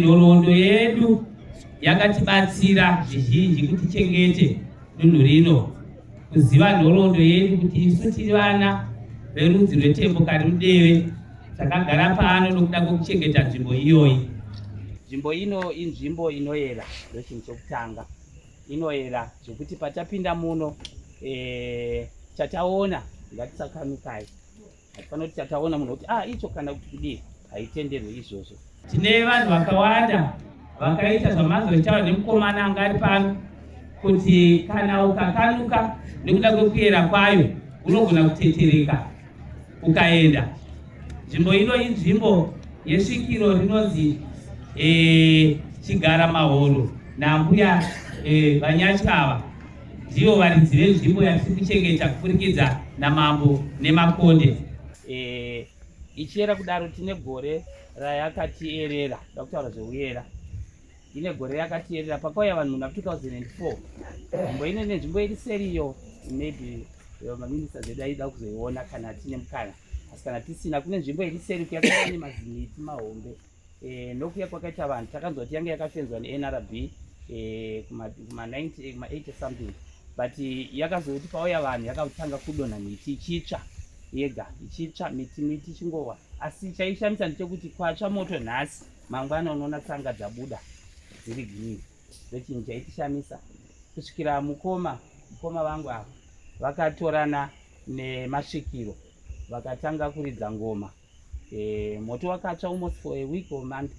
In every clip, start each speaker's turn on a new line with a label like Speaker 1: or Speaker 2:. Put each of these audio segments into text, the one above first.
Speaker 1: Nhoroondo yedu yakatibatsira zvizhinji kuti chengete dunhu rino kuziva nhoroondo yedu kuti isu tiri vana verudzi rwetembo kari mudeve takagara pano nokuda kwekuchengeta nzvimbo iyoyi nzvimbo ino inzvimbo inoyera ndochinhu chokutanga inoyera zvekuti patapinda muno e, chataona ngatisakanukai Hatifanira kuti tataona munhu kuti ah icho kana kuti kudii haitenderwe izvozvo. Tine vanhu vakawanda vakaita zvamazoitawo nemukomana anga ari pano kuti kana ukakanuka nekuda kwekuyera kwayo unogona kutetereka ukaenda. Nzvimbo ino inzvimbo yesvikiro rinonzi eh, chigara mahoro nambuya eh, vanyachi ava ndivo varidzi venzvimbo yatiri kuchengeta kupfurikidza namambo nemakonde e, ichiyera kudaro tine gore rayakatierera da kutaura zveuyera ine gore yakatierera pakauya vanhu muna 2004 nzvimbo ine nenzvimbo iri seriyo maybe maminista zedu aida kuzoiona kana tine mukana asi kana tisina kune nzvimbo iri seri kuyakaane maziniti mahombe e, nokuya kwakaita vanhu takanzwa kuti yange yakafenzwa nenrb e, kuma, kuma 90 kuma 80 something but yakazoti pauya vanhu yakatanga kudonha miti ichitsva yega ichitsva miti miti chingowa asi chaishamisa ndechekuti kwatsva moto nhasi mangwana unoona tsanga dzabuda dziri green ndochinhu chaitishamisa kusvikira mukoma mukoma vangu ava vakatorana nemasvikiro vakatanga kuridza ngoma Eh, moto wakatsva almost for a week or month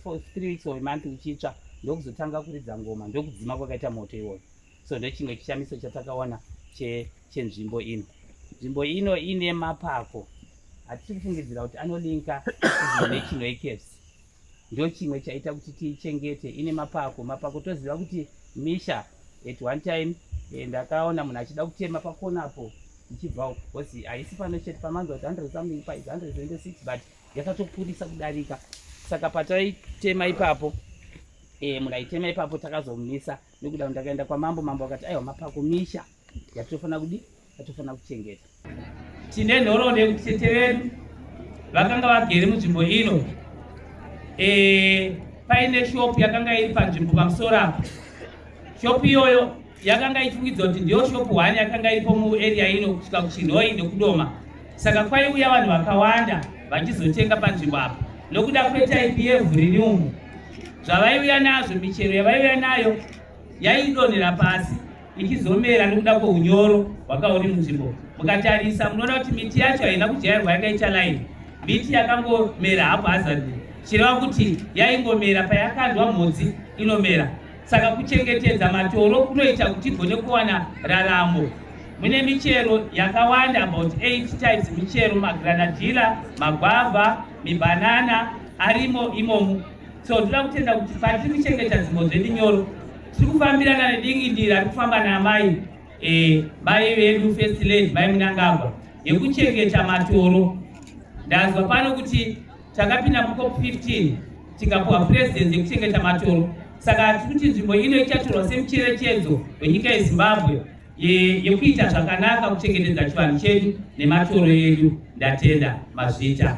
Speaker 1: for three weeks or a month uchitsva ndokuzotanga kuridza ngoma ndokudzima kwakaita moto iwoyo so ndochimwe chishamiso chatakaona chenzvimbo che ino nzvimbo ino ine mapako hatisi kufungidzira kuti anolinka nechinoekevs ndochimwe chaita kuti tiichengete ine mapako mapako toziva kuti misha at one time eh, ndakaona munhu achida kutema pakona apo ichibva uko because haisi pano chete pamanza kuti hundred something pa is hundred twenty six but yakatokurisa kudarika saka pataitema ipapo e, munhu aitema ipapo takazomumisa nekuda kuti ndakaenda kwamambo mambo akati aiwa mapako misha yatinofanira kudi yatinofanira kuchengeta tine nhoroondo yekuti tete vedu vakanga vagere munzvimbo ino eh, paine shopu yakanga iri panzvimbo pamusoro apo shopu iyoyo yakanga ichifungidzwa kuti ndiyo shopu hwani yakanga iripo muarea ino kusvika kuchinhoi nekudoma saka kwaiuya vanhu vakawanda vachizotenga panzvimbo apo nokuda kwetyp yevhu riri umu zvavaiuya nazvo michero yavaiuya nayo yaidonhera pasi ichizomera nekuda kweunyoro hwakauri munzvimbo mukatarisa munoona kuti miti yacho haina kujairwa yakaita laini miti yakangomera hapo hazadi chireva kuti yaingomera payakandwa mhodzi inomera saka kuchengetedza matoro kunoita kuti igone kuwana raramo mune michero yakawanda about 8 types michero magranadila magwavha mibanana arimo imomu so tinoda kutenda kuti patiri kuchengeta dzimbo dzedu nyoro tiri kufambirana nedingindira ari kufamba naamai eh, mai vedu first lady mai munangagwa yekuchengeta matoro ndanzwa pano kuti takapinda mukop 15 tikapuwa presidency yekuchengeta matoro saka tiri kuti nzvimbo ino ichatorwa semucherechedzo wenyika yezimbabwe yekuita zvakanaka kuchengetedza chivanhu chedu nematoro edu ndatenda mazvita